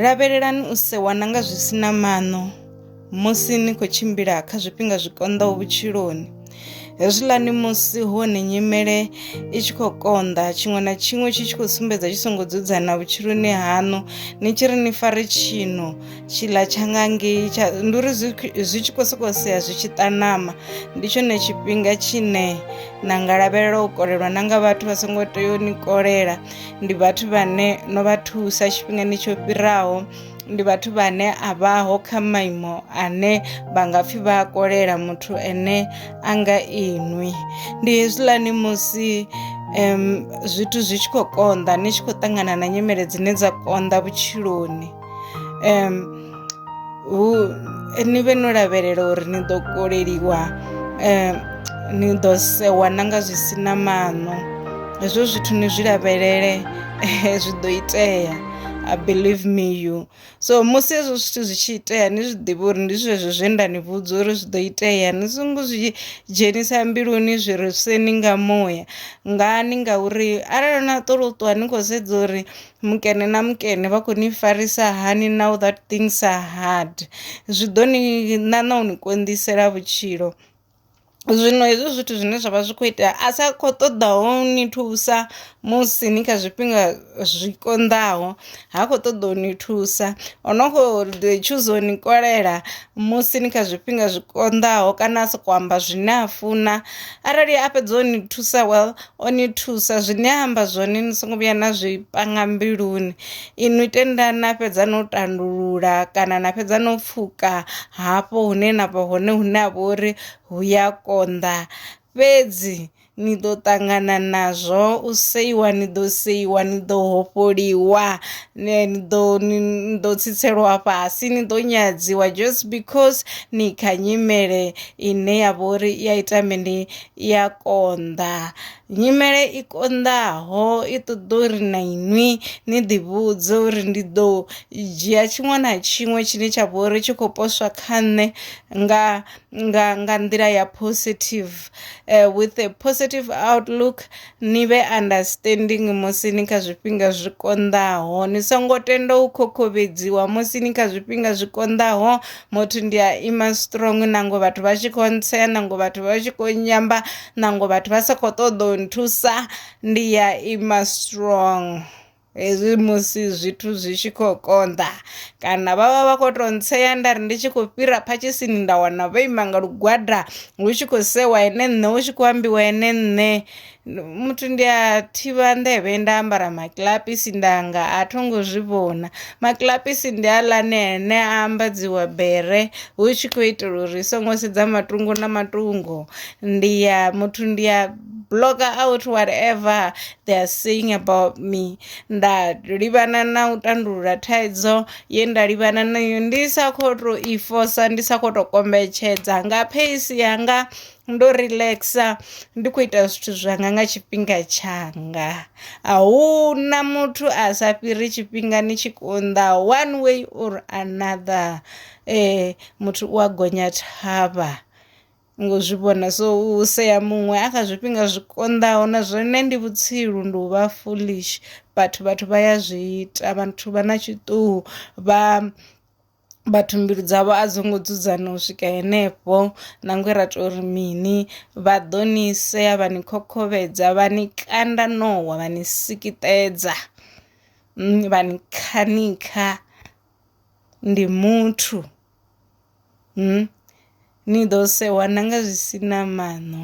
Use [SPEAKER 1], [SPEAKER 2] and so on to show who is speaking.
[SPEAKER 1] Lavhelelani u sewa na nga zwi si na maṋo musi ni khou tshimbila kha zwifhinga zwi konḓaho vhutshiloni hezwiḽani musi hone nyimele i tshi khou konḓa tshiṅwe na tshiṅwe tshi tshi khou sumbedza tshi songo dzudzana vhutshiloni haṋu ni tshi ri ni fare tshino tshiḽa tsha nga ngei tsha ndi uri zwi tshi khou sokou sea zwi tshi ṱanama ndi tshone tshifhinga tshine na nga lavhelela u kolelwa na nga vhathu vha songo tea u ni kolela ndi vhathu vhane no vha thusa tshifhingani tsho fhiraho ndi vhathu vhane a vhaho kha maimo ane vha nga pfhi vha a kolela muthu ene a nga inwi ndi hezwiḽani musi um zwithu zwi tshi khou konḓa ni tshi khou ṱangana na nyimele dzine dza konḓa vhutshiloni um hu ni vhe no lavhelela uri ni ḓo koleliwa um ni ḓo sewa na nga zwi si na maṋo hezwo zwithu ni zwi lavhelele zwi ḓo itea I believe me you so musi hezwo zwithu zwi tshi itea ni zwi ḓivhe uri ndi zwezwo zwe nda ni vhudza uri zwi ḓo itea ni songo zwi dzhenisa mbiluni zwi ri seni nga muya ngani ngauri arali na ṱolo ṱuwa ni khou sedza uri mukene na mukene vha khou ni farisa hani now that things are hard zwi ḓo ni ṋaṋa u ni konḓisela vhutshilo. Zwino hezwi zwithu zwine zwavha zwi kho itea a sa kho ṱoḓaho ni thusa musi ni kha zwifhinga zwi konḓaho ha khou ṱoḓa u ni thusa ono kho ḓi tshuza u ni kolela musi ni kha zwifhinga zwi konḓaho kana a soko amba zwine a funa arali a fhedza u ni thusa well o ni thusa zwine a amba zwone ni songo vhuya na zwi panga mbiluni inwi tenda na fhedza no tandulula kana na fhedza no pfuka hafho hune na vha hone hune ha vha uri hu ya konḓa fhedzi ni ḓo ṱangana nazwo u seiwa ni ḓo seiwa ni ḓo hofholiwa ni ḓo ni ḓo tsitselwa fhasi ni ḓo nyadziwa just because ni kha nyimele ine ya vha uri i a ita mini i ya konḓa nyimele i konḓaho i ṱoḓa uri na inwi ni ḓi vhudze uri ndi ḓo dzhia tshiṅwe na tshiṅwe tshine tsha vha uri tshi khou poswa kha nṋe nga nga nga nḓila ya positive with a positive outlook Ni vhe understanding musi ni kha zwifhinga zwi konḓaho. Ni songo tenda u khokhombedziwa musi ni kha zwifhinga zwi konḓaho. Motho ndi a ima strong nango vhathu vha tshi khou ntsea, nango vhathu vha tshi khou nyamba, nango vhathu vha sa khou ṱoḓa u nthusa, ndi a ima strong. hezwi musi zwithu zwi tshi khou konḓa kana vha vha vha khou tou ntsea nda ri ndi tshi khou fhira phatshisini nda wana vho ima nga lugwada hu tshi khou sewa ene nṋe hu tshi khou ambiwa ene nṋe muthu ndi a thivha nḓevhe nda ambara makilapisi ndanga a tho ngo zwi vhona makilapisi ndi aḽane ene a ambadziwa bere hu tshi khou itela uri songo sedza matungo na matungo ndi ya muthu ndi ya bloka out whatever they are saying about me nda livhana na u tandulula thaidzo ye nda livhana nayo ndi sa khou tou i fosa ndi sa khou tou kombetshedza nga pace yanga ndo relaxa ndi khou ita zwithu zwanga nga tshifhinga tshanga a hu na muthu a sa fhiri tshifhingani tshi konḓa one way or another muthu u a gonya thavha. ngo zwi vhona so u sea muṅwe a kha zwifhinga zwi konḓaho na zwone ndi vhutsilu ndi u vha foolish but vhathu vha ya zwi ita vhathu vha na tshiṱuhu vha vhathu mbilu dzavho a dzi ngo dzudzana u swika henefho nangwe ra tori mini vha ḓo ni sea vha ni khokhovhedza vha ni kanda ṋowa vha ni sikitedza vha ni khanikha ndi muthu. Ni ḓo sewa na nga zwi si na maṋo.